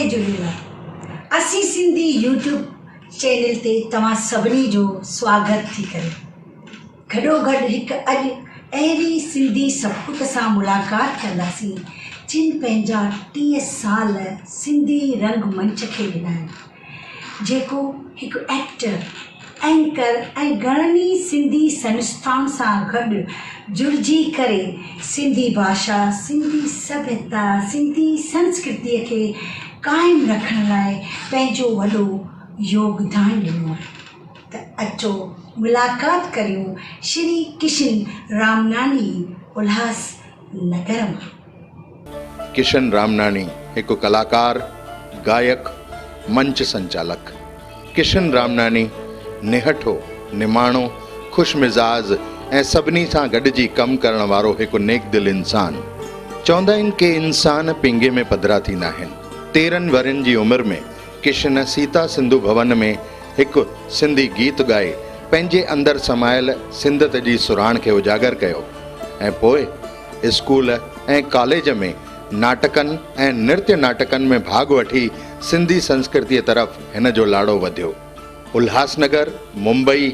جي جهونيلر اسين سنڌي يوٽيوب چينل تي توهان سڀني جو سواگت ٿي ڪري گڏو گڏ هڪ اڄ اهڙي سنڌي سپوت سان ملاقات ڪنداسين جن پنهنجا ٽيهه سال سنڌي رنگ منچ کي ڏنا آهن جيڪو هڪ ايڪٽر، اينڪر ۽ گهڻن ئي سنڌي سنستائن سان گڏ جڙجي ڪري سنڌي ڀاشا، سنڌي سڀيتا، سنڌي سنسڪرتيء کي قائم رکڻ لاء پنهنجو وڏو يوگدان ڏنو آهي ته اچو ملاقات ڪريون شري ڪشن رامناني الهاس نگر مان. ڪشن رامناڻي هڪ ڪلاڪار، گائڪ، منچ سنچالڪ. ڪشن رامناڻي نهٺو، نماڻو، خوش مزاز ۽ سڀني سان گڏجي ڪم ڪرڻ وارو هڪ نيڪدل انسان. چوندا آهن ڪي انسان پينگهي ۾ پڌرا ٿيندا آهن. تيرهن ورهين جي عمر ۾ ڪشن سيتا سنڌو ڀون ۾ هڪ سنڌي گيت ڳائي پنهنجي اندر سمايل سنڌت جي سرهاڻ کي اجاگر ڪيو ۽ پوء اسڪول ۽ ڪاليج ۾ ناٽڪن ۽ نرتيه ناٽڪن ۾ ڀاڳ وٺي سنڌي سنسڪرتيء طرف هن جو لاڙو وڌيو. الهاسنگر، ممبئي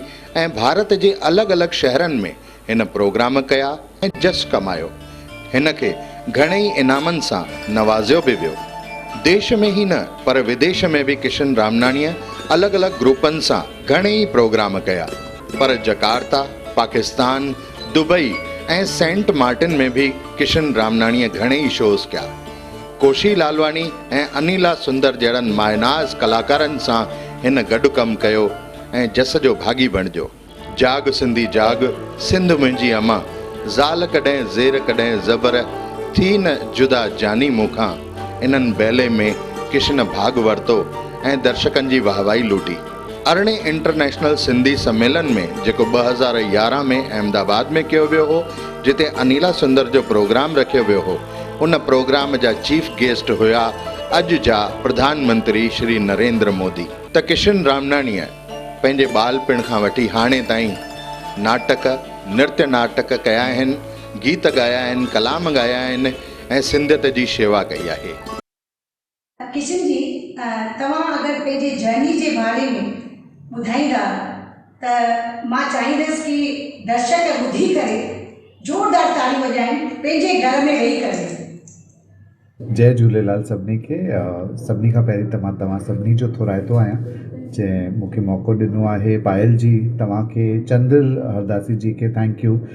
۽ ڀارت جي الڳ الڳ شهرن ۾ هن پروگرام ڪيا ۽ جس ڪمايو. هن کي گهڻي ئي انعامن سان نوازيو به ويو. ديش ۾ ئي نه پر وديش ۾ به ڪشن رامناڻيء الڳ الڳ گروپن سان گهڻي ئي پروگرام ڪيا پر Jakarta, Pakistan, Dubai ۽ Saint Martin ۾ به ڪشن رامناڻيء گهڻي ئي شوز ڪيا. ڪوشي لالواڻي ۽ انيلا سندر جهڙن مايوناز ڪلاڪارن سان هن گڏ ڪم ڪيو ۽ جس جو ڀاڳي بڻجيو. جاڳ سنڌي جاڳ، سنڌ منهنجي اما، زال ڪڏهن زير ڪڏهن زبر، ٿي نه جدا جاني مون کان، انهن بيلي ۾ ڪشن ڀاڳ ورتو ۽ درشڪن جي واهوائي لوٽي. ارڙهين انٽرنيشنل سنڌي سميلن ۾ جيڪو ٻه هزار يارهن ۾ احمد آباد ۾ ڪيو ويو هو جتي انيلا سندر جو پروگرام رکيو ويو هو ان پروگرام جا چيف گيسٽ هيا اڄ جا پرڌان منتري شري نريندر مودي. ته ڪشن رامناڻيء پنهنجي ٻالپڻ کان وٺي هاڻي تائين ناٽڪ، نرتيه ناٽڪ ڪيا آهن، گيت ڳايا آهن، ڪلام ڳايا آهن ۽ سنڌيت جي شيوا ڪئي آهي. ڪشن جي توهان اگر پنهنجي جرني جي باري ۾ ٻڌائيندا ته مان چاهيندس ڪي درشڪ ٻڌي ڪري زوردار تاڙيون وڄائين پنهنجي گهر ۾ ويهي ڪري. جئي جهوليلال سڀني کي سڀني کان پهرين ته مان توهان سڀني جو ٿورائتو آهيان جنهن مونکي موقعو ڏنو آهي پايل جي توهان کي چندر هرداسي جي کي ٿينڪ يو.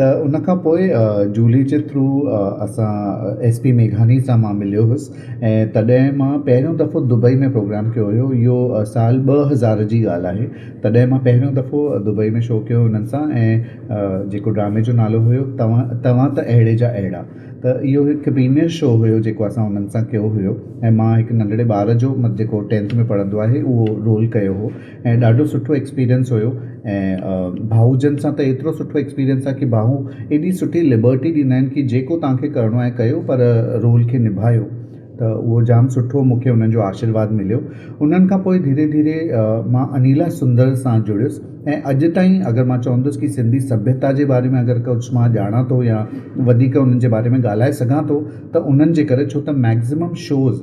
ته ان کان پوء جولي جي ٿرو اسان ايس پي ميگھاني سان مان مليو هيس ۽ تڏهن مان پهريون دفعو دبئي ۾ پروگرام ڪيو هيو اهو سال ٻه هزار جي ڳالهه آهي تڏهن مان پهريون دفعو دبئي ۾ شو ڪيو انهن سان ۽ جيڪو ڊرامي جو نالو هيو توهان توهان ته اهڙي جا اهڙا ته اهو هڪ پريميئر شو هيو جيڪو اسان انهن سان ڪيو هيو ۽ مان هڪ ننڍڙي ٻار جو مت جيڪو ٽينٿ ۾ پڙهندو آهي اهو رول ڪيو هو ۽ ڏاڍو سٺو ايڪسپيرينس هيو ۽ ڀائو جن سان ته ايترو سٺو ايڪسپيرينس آهي ڪي ڀائو ايڏي سٺي لبرٽي ڏيندا آهن ڪي جيڪو تهان کي ڪرڻو آهي ڪيو پر رول کي نڀايو ته اهو جام سٺو مون کي انهن جو آشيرواد مليو انهن کان پوء ڌيري ڌيري مان انيلا سندر سان جڙيس ۽ اڄ تائين اگر مان چوندس ڪي سنڌي سڀيتا جي باري ۾ اگر ڪجهه مان ڄاڻان ٿو يا وڌيڪ انهن جي باري ۾ ڳالهائي سگهان ٿو ته انهن جي ڪري ڇو ته ميڪزمم شوز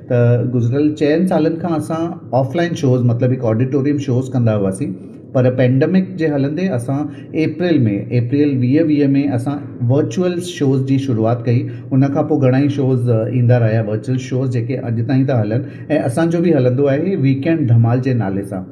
ته گذريل چئن سالن کان اسان آف لائن شوز مطلب هڪ آڊيٽوريم شوز ڪندا هئاسين پر پينڊمڪ جي هلندي اسان اپريل ۾ اپريل ويهه ويهه ۾ اسان ورچوئل شوز جي شروعات ڪئي ان کان پوء گهڻائي شوز ايندا رهيا ورچوئل شوز جيڪي اڄ تائين ٿا هلن ۽ اسان جو به هلندو آهي ويڪينڊ ڌمال جي نالي سان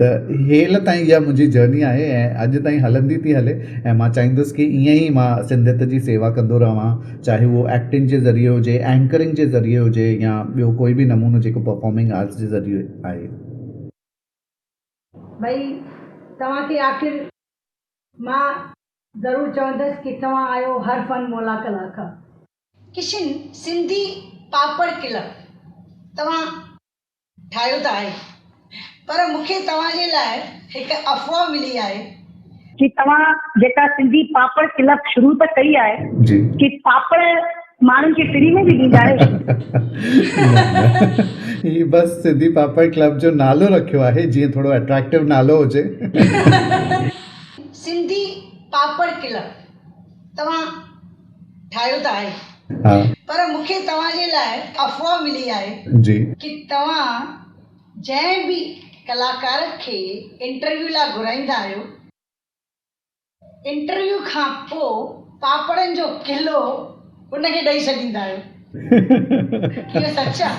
ته هيل تائين اها منهنجي جرني آهي ۽ اڄ تائين هلندي ٿي هلي ۽ مان چاهيندس ڪي ائين ئي مان سنڌيت جي سيوا ڪندو رهان چاهي اهو ايڪٽنگ جي ذريعي هجي اينڪرنگ جي ذريعي هجي يا ٻيو ڪوئي به نمونو جيڪو پرفارمنگ آرٽس جي ذريعي آهي. ڀئي توهان کي آخر مان ضرور چوندس ڪي توهان آهيو هر فن مولا ڪلاڪار. ڪشن سنڌي پاپڙ ڪلب توهان. ٺاهيو ته آهي پر مون کي توهان جي لاء هڪ افواهه ملي آهي. جي توهان جيڪا سنڌي پاپڙ ڪلپ شروع ته ڪئي آهي جي پاپڙ ماڻهن کي فري ۾ به ڏيندا آهيو ڇا؟ نه نه هي بس سنڌي پاپڙ ڪلپ جو نالو رکيو آهي جيئن ٿورو اٽريڪٽو نالو هجي. سنڌي پاپڙ ڪلپ توهان ٺاهيو ته آهي پر مون کي توهان جي لاء افواهه ملي آهي ڪي توهان جنهن به ڪلاڪار کي انٽرويو لاء گهرائيندا آهيو انٽرويو کان پو پاپڙن جو ڪلو ان کي ڏئي ڇڏيندا آهيو اهو سچ آهي.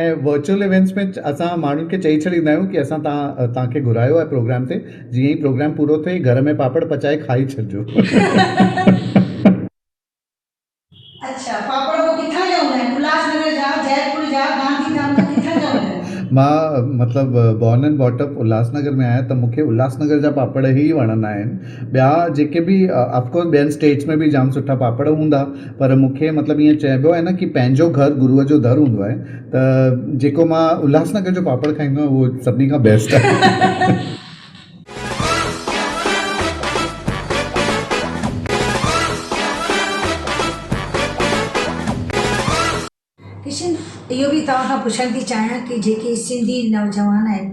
۽ ورچوئل ايونٽس ۾ اسان ماڻهن کي چئي ڇڏيندا آهيون ڪي اسان توهان کي گهرايو آهي پروگرام تي جيئن ئي پروگرام پورو ٿئي گهر ۾ پاپڙ پچائي کائي ڇڏجو. اڇا پاپڙ پوء ڪٿان جا هوندا آهن الهاس نگر جا جئپور جا گانڌي ڌام جا ڪٿان جا هوندا آهن. مان مطلب born and brought up Ulhasnagar ۾ آهيان ته مون کي الهاس نگر جا پاپڙ ئي وڻندا آهن ٻيا جيڪي به آف ڪورس ٻين اسٽيٽس ۾ به جام سٺا پاپڙ هوندا. پر مون کي مطلب ائين چئبو آهي نه ڪي پنهنجو گهر گروء جو در هوندو آهي ته جيڪو مان الهاس نگر جو پاپڙ کائيندو آهيان اهو سڀني کان بيسٽ آهي. ڪشن، اهو به توهان کان پڇڻ ٿي چاهيان ڪي جيڪي سنڌي نوجوان آهن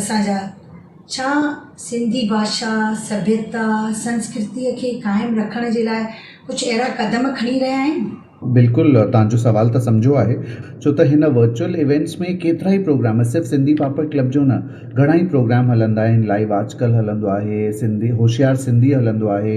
اسان جا ڇا سنڌي ڀاشا، سڀيتا، سنسڪرتيء کي قائم رکڻ جي لاء ڪجهه اهڙا قدم کڻي رهيا آهن؟ بلڪل توهان جو سوال ته سمجهو آهي ڇو ته هن ورچوئل ايونٽس ۾ ڪيترائي پروگرام صرف سنڌي پاپڙ ڪلب جو نه گهڻائي پروگرام هلندا آهن لائيو آج ڪل هلندو آهي سنڌي هوشيار سنڌي هلندو آهي.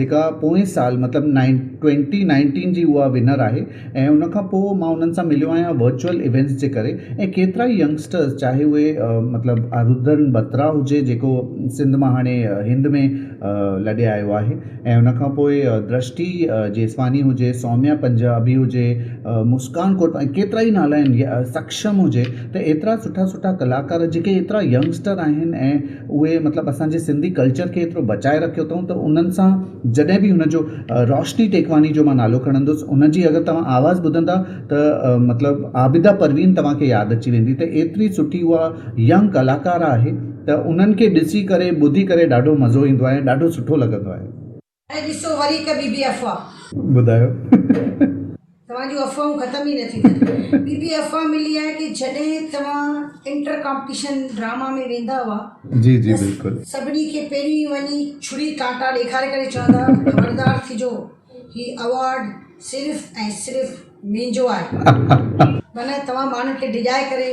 جيڪا پوئين سال مطلب نائن ٽوئنٽي نائنٽين جي اها ونر آهي ۽ ان کان پوء ماں انهن سان مليو آهيان ورچوئل ايونٽس جي ڪري ۽ ڪيترا ئي ينگسٽرس چاهي اهي مطلب آرودرن بترا هجي جيڪو سنڌ مان هاڻي هند ۾ لڏي آيو آهي ۽ ان کان پوء درشٽي جيسواني هجي سوميا پنجابي هجي مسڪان ڪوٽ ۽ ڪيترا ئي نالا آهن سڪشم هجي ته ايترا سٺا سٺا ڪلاڪار جيڪي ايترا ينگسٽر آهن ۽ اهي مطلب اسان جي سنڌي ڪلچر کي ايترو بچائي رکيو اٿئون ته انهن سان جڏهن به هن جو روشني ٽيڪواني جو مان نالو کڻندس ان جي اگر توهان آواز ٻڌندا ته مطلب عابده پروين توهان کي ياد اچي ويندي ته ايتري سٺي اها ينگ ڪلاڪار آهي ته انهن کي ڏسي ڪري ٻڌي ڪري ڏاڍو مزو ايندو آهي ۽ ڏاڍو سٺو لڳندو آهي. ۽ ڏسو وري هڪ ٻي به افواهه. ٻڌايو. توهان جون افواهون ختم ئي نه ٿينديون. ٻي به افواهه ملي آهي ڪي جڏهن توهان انٽر ڪامپٽيشن ڊراما ۾ ويندا هئا جي جي بلڪل. ته سڀني کي پهرين وڃي ڇري ڪانٽا ڏيکاري ڪري چوندا هئا ته خبردار ٿجو هي اوارڊ صرف ۽ صرف مينجو آهي. معنيٰ توهان ماڻهن کي ڊڄائي ڪري.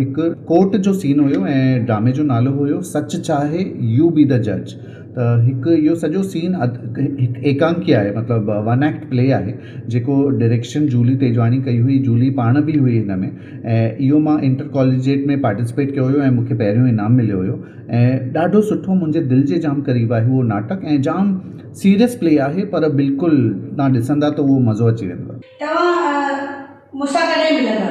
هڪ ڪورٽ جو سين هيو ۽ ڊرامي جو نالو هيو سچ چاهي يو بي دا جج ته هڪ اهو سڄو سين هڪ ايڪانڪي آهي مطلب ون ايڪٽ پلي آهي جيڪو ڊريڪشن جولي تيجواڻي ڪئي هئي جولي پاڻ بي هئي هن ۾ ۽ اهو مان انٽر ڪاليجيٽ ۾ پارٽيسپيٽ ڪيو هيو ۽ مونکي پهريون انعام مليو هيو ۽ ڏاڍو سٺو منهنجي دل جي جام قريب آهي اهو ناٽڪ ۽ جام سيريس پلي آهي پر بلڪل تهان ڏسندا ته اهو مزو اچي ويندو. توهان مون سان ڪڏهن ملندا؟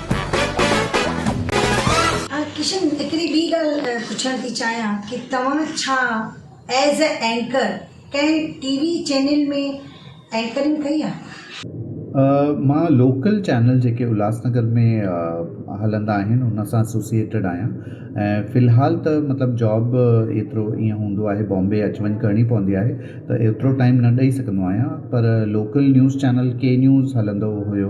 ڪشن هڪڙي ٻي ڳالهه پڇڻ ٿي چاهيان ڪي توهان ڇا ايز اي اينڪر ڪنهن ٽي وي چينل ۾ اينڪرنگ ڪئي آهي؟ مان لوڪل چينل جيڪي الهاس نگر ۾ هلندا آهن ان سان اسوسيئيٽيڊ آهيان ۽ في الحال ته مطلب جاب ايترو ايئن هوندو آهي بامبي اچ وڃ ڪرڻي پوندي آهي ته ايترو ٽائيم نه ڏئي سگهندو آهيان پر لوڪل نيوز چينل ڪي نيوز هلندو هيو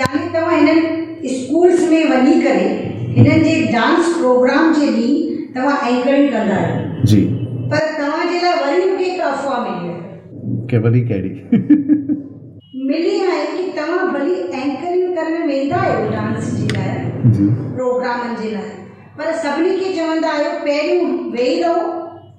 يعني توهان هنن اسڪولز ۾ وڃي ڪري هنن جي ڊانس پروگرام جي به توهان اينڪرنگ ڪندا آهيو. جي. پر توهان جي لاء وري مونکي هڪ افواهه ملي آهي. ڪي وري ڪهڙي؟ ملي آهي ڪي توهان ڀلي اينڪرنگ ڪرڻ ويندا آهيو ڊانس جي لاء جي. پروگرامن جي لاء پر سڀني کي چوندا آهيو پهريون ويهي رهو.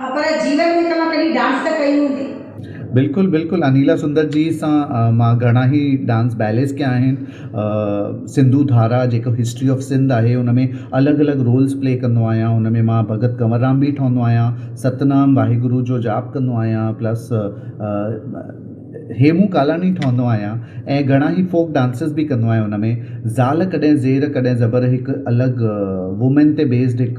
ها پر جيون ۾ توهان ڪڏهن ڊانس ته ڪئي هوندي. بلڪل بلڪل انيلا سندر جي سان مان گهڻا هي ڊانس بيليز ڪيا آهن سنڌو ڌارا جيڪو هسٽري آف سنڌ آهي ان ۾ الڳ الڳ رولز پلي ڪندو آهيان ان ۾ مان ڀڳت ڪنور رام بي ٺهندو آهيان ستنام واحگرو جو جاپ ڪندو آهيان پلس هيمون ڪالاڻي ٺهندو آهيان ۽ گهڻا هي فوڪ ڊانسز بي ڪندو آهيان ان ۾ زال ڪڏهن زير ڪڏهن زبر هڪ الڳ وومين تي بيسڊ هڪ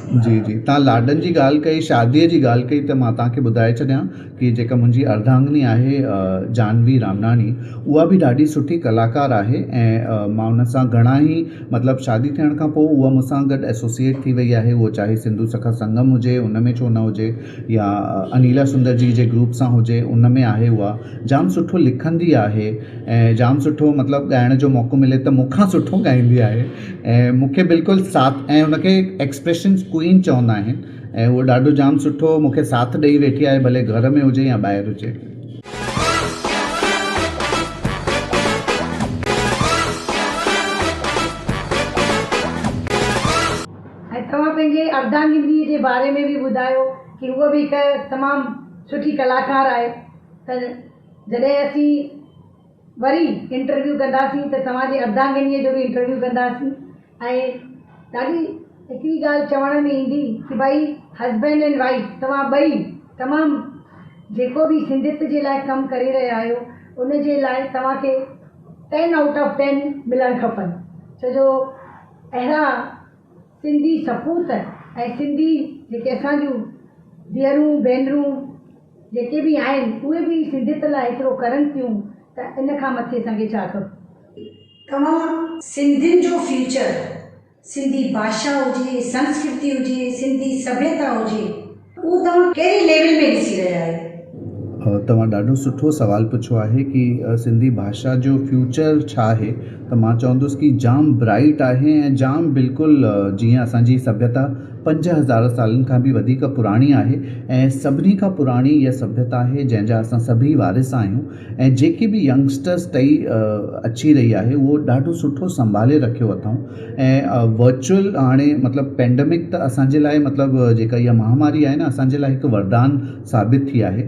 جي جي تان لاڏن جي ڳالهه ڪئي شادي جي ڳالهه ڪئي ته مان تان کي ٻڌائي ڇڏيان ڪي جيڪا منهنجي ارڌانگني آهي جانوي رامناڻي اها به ڏاڍي سٺي ڪلاڪار آهي ۽ مان ان سان گهڻا هي مطلب شادي ٿيڻ کان پوء اها مون سان گڏ ايسوسيئيٽ ٿي وئي آهي اهو چاهي سنڌو سکا سنگم هجي ان ۾ ڇو نه هجي يا انيلا سندر جي جي گروپ سان هجي ان ۾ آهي اها جام سٺو لکندي آهي ۽ جام سٺو مطلب ڳائڻ جو موقعو ملي ته مون کان سٺو ڳائندي آهي ۽ مون کي بلڪل ساٿ ۽ ان کي ايڪسپريشنس ڪوئين چوندا آهن ۽ هوء ڏاڍو جام سٺو مون کي ساٿ ڏئي ويٺي آهي ڀلي گهر ۾ هجي يا ٻاهر هجي. ۽ توهان پنهنجي اردانگندي جي باري ۾ به ٻڌايو ڪي هوء به هڪ تمام سٺي ڪلاڪار آهي ته جڏهن اسين. وري انٽرويو ڪنداسين ته توهان جي اردانگنيء جو به انٽرويو ڪنداسين ۽ ڏاڍي هڪڙي ڳالهه چوڻ ۾ ايندي ته ڀائي هسبينڊ اينڊ وائيف توهان ٻئي تمام جيڪو به سنڌيت جي لاء ڪم ڪري رهيا آهيو ان جي لاء توهان کي ٽين آئوٽ آف ٽين ملڻ کپن ڇو جو اهڙا سنڌي سپوت ۽ سنڌي جيڪي اسان جون ڌيئرون ڀينرون جيڪي به آهن اهي به سنڌيت لاء ايترو ڪرن ٿيون ته ان کان مٿي اسان کي ڇا کپي. توهان سنڌين جو فيوچر سنڌي باشا هجي، سنسڪرتي هجي، سنڌي سڀيتا هجي اهو توهان ڪهڙي ليول ۾ ڏسي رهيا آهيو؟ توهان ڏاڍو سٺو سوال پڇيو آهي ڪي سنڌي باشا جو فيوچر ڇا آهي ته مان چوندس ڪي جام برائيٽ آهي ۽ جام بلڪل جيئن اسان جي سڀيتا پنج هزار سالن کان به وڌيڪ پراڻي آهي ۽ سڀني کان پراڻي اها سڀيتا آهي جنهن جا اسان سڀئي وارث آهيون ۽ جيڪي به ينگسٽرس ٽهي اچي رهي آهي اهو ڏاڍو سٺو سنڀالي رکيو اٿئون ۽ ورچوئل هاڻي مطلب پينڊمڪ ته اسان جي لاء مطلب جيڪا اها مهاماري آهي نه اسان جي لاء هڪ وردان ثابت ٿي آهي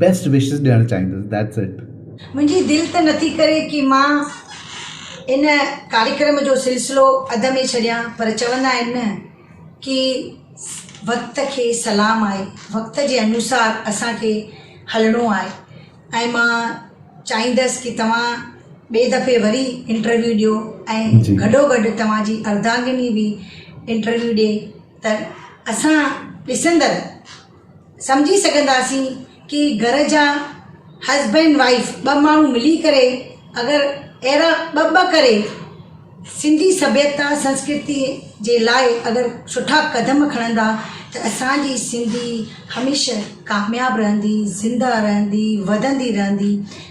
بيسٽ وشز ڏيڻ چاهيندس ڌيٽس اٽ. منهنجي دل ته نٿي ڪري ڪي مان ان ڪاريڪرم جو سلسلو اڌ ۾ ڇڏيان پر چوندا آهن نه ڪي وقت کي سلام آهي وقت جي انوسار اسان کي هلڻو آهي ۽ مان چاهيندس ڪي توهان ٻي دفعي وري انٽرويو ڏيو ۽ گڏو گڏ توهان جي اردانگني به انٽرويو ڏي ته اسان ڏسندڙ سمجهي سگهنداسين ڪي گهر جا هسبينڊ وائيف ٻه ماڻهو ملي ڪري اگر اهڙا ٻه ٻه ڪري سنڌي سڀيتا سنسڪرتي جي لاء اگر سٺا قدم کڻندا ته اسانجي سنڌي هميشه ڪامياب رهندي زنده رهندي وڌندي رهندي